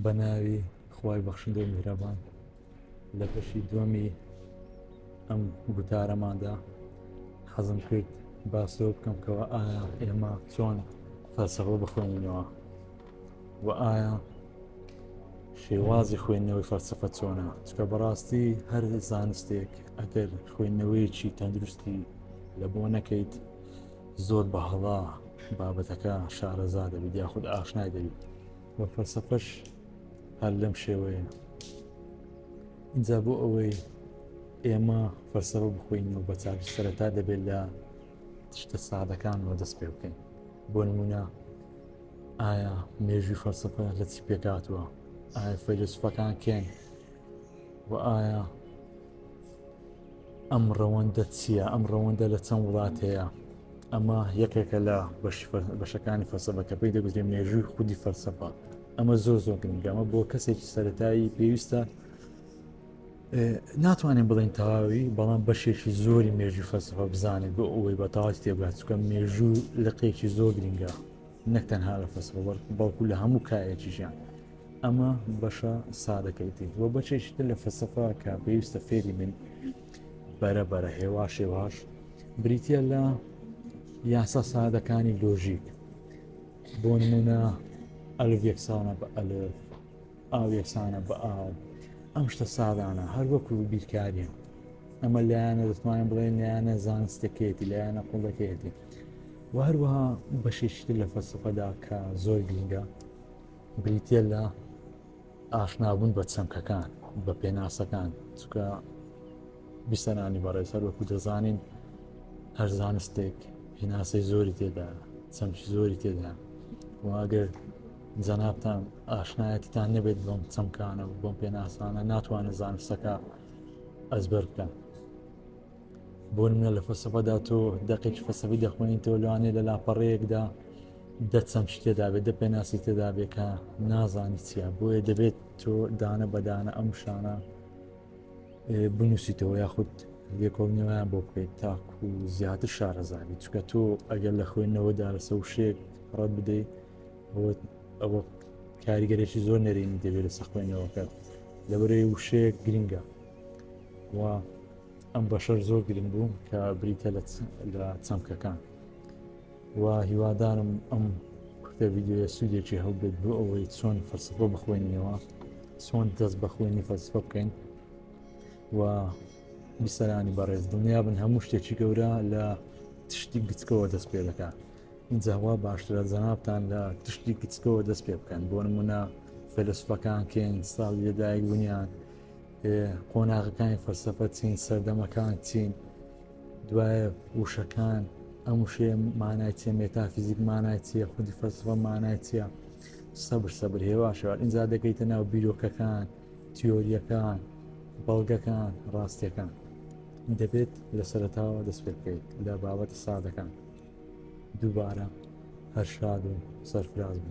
بە ناوی خوای بەخشندەی میهرەبان لە بەشی دووەمی ئەم گوتارەماندا حەزم کرد باسۆ بکەم کەەوە ئایا ئێمە چۆن فەلسەفە بخوێنینەوە و ئایا شێوازی خوێندنەوەی فەلسفە چۆنە چکە بەڕاستی هەر زانستێک ئەگەر خوێندنەوەیەکی تەندروستی لە بۆ نەکەیت زۆر بە هەڵە بابەتەکە شارەزا دەبیت یاخود ئاشنای دەبیت و فەلسەفەش هەر لەم شێوەیە اینجا بۆ ئەوەی ئێمە فەلسەفە بخۆین و بە چاک سەرەتا دەبێت لە شتە سادەکانەوە دەست پێ بکەین بۆ نمونە ئایا مێژوی فەلسەفە لە چی پێکاتوە ئایا فەیلسوفەکان کێن و ئایا ئەم ڕەوەندە چییە؟ ئەم ڕەوەندە لە چەند وڵات هەیە؟ ئەمە یەکێکە لە بەشەکانی فەلسەفە کە پێی دەگوترێ مێژووی خودی فەلسەفە ئەمە زۆر زۆر گرنگەمە بۆ کەسێکی سەتایی پێویستە ناتوانین بڵین تەواوی بەڵام بەشێکی زۆری مێژوی فەسەفە بزانێت بۆ ئەوەی بە تاواتی تێبگات چکە مێژوو لەقێکی زۆر گرنگە نەک تەنها لە فەسڵەوە بەڵکو لە هەموو کایەکیشیان ئەمە بەشە سادەکەیتی وە بەچێکتر لە فەسەفا کە پێویستە فێری من بەرە بەرە هێوا شێواش بریتە لە یاسا سادەکانی لۆژیک بۆ نمونە ئەلف یەکسانە بە ئەلف ئاو یەکسانە بە ئاو ئەم شتە سادانە هەر وەکو بیرکاریە ئەمە لایەنە دەتوانین بڵێن لایەنە زانستەکەیەتی لایەنە قوڵەکەیەتی و هەروەها بەشێشتر لە فەسەفەدا کە زۆر گرنگە بریتە لە ئاشنابوون بە چەمکەکان بە پێناسەکان چکە بیسەرانی بەڕێز هەر وەکو دەزانین هەر زانستێک پێناسەی زۆری تێدا چەمکی زۆری تێدا واگەر جەنابتان ئاشنایەتیتان نەبێت بەم چەمکانە و بەم پێناسانە ناتوانن زانستەکە ئەزبەر بکەن بۆ منە لە فەسەفەدا تۆ دەقێکی فەسەفی دەخوێنین تۆ لەوانێ لە لاپەڕەیەکدا دەچەم شتێدا بێت دە پێناسی تێدا بێکە نازانی چیە بۆیە دەبێت تۆ دانە بەدانە ئەم شانە بنووسیتەوە یاخود لێکۆڵنیوەیان بۆ بکەیت تاکو زیاتر شارەزابی چکە تۆ ئەگەر لە خوێندنەوەدا لەسە وشێک ڕەت بدەیت ئەوە کاریگەرێکی زۆر نەرێنی دەبێت لە سەخوێنەوەکە لەبەرەی وشەیە گرنگە و ئەم بەشەر زۆر گرنگ بوو کە بریتە لە چەمکەکان و هیوادارم ئەم کورتە ویددیوە سوودێکی هەڵبێت بۆ ئەوەی چۆن فەرسفۆ بخوێنیەوە چۆن دەست بە خوێنی فەرسفە بکەین و بیسەرانی بەڕێز دڵنیا بن هەموو شتێکی گەورە لە تشتی گچکەوە دەست پێ دەکات ئینجا وا باشترە جەنابتان لە تشتی کچکەوە دەست پێ بکەن بۆ نمونە فەلسفەکان کێن ساڵی لەدایک بوونیان قۆناغەکانی فەلسفە چین سەردەمەکان چین دوایە وشەکان ئەم وشەیە مانای چیە مێتافیزیک مانای چیە خودی فەلسفە مانای چیە سەبر سەبر هێواشەوە ئینجا دەکەیتە ناو بیرۆکەکان تیۆرییەکان، بەڵگەکان، ڕاستییەکان. دەبێت لە سەرەتاوە دەست پێ بکەیت لە بابەتە سادەکان. دووبارە هەر شاد و سەرفراز بن.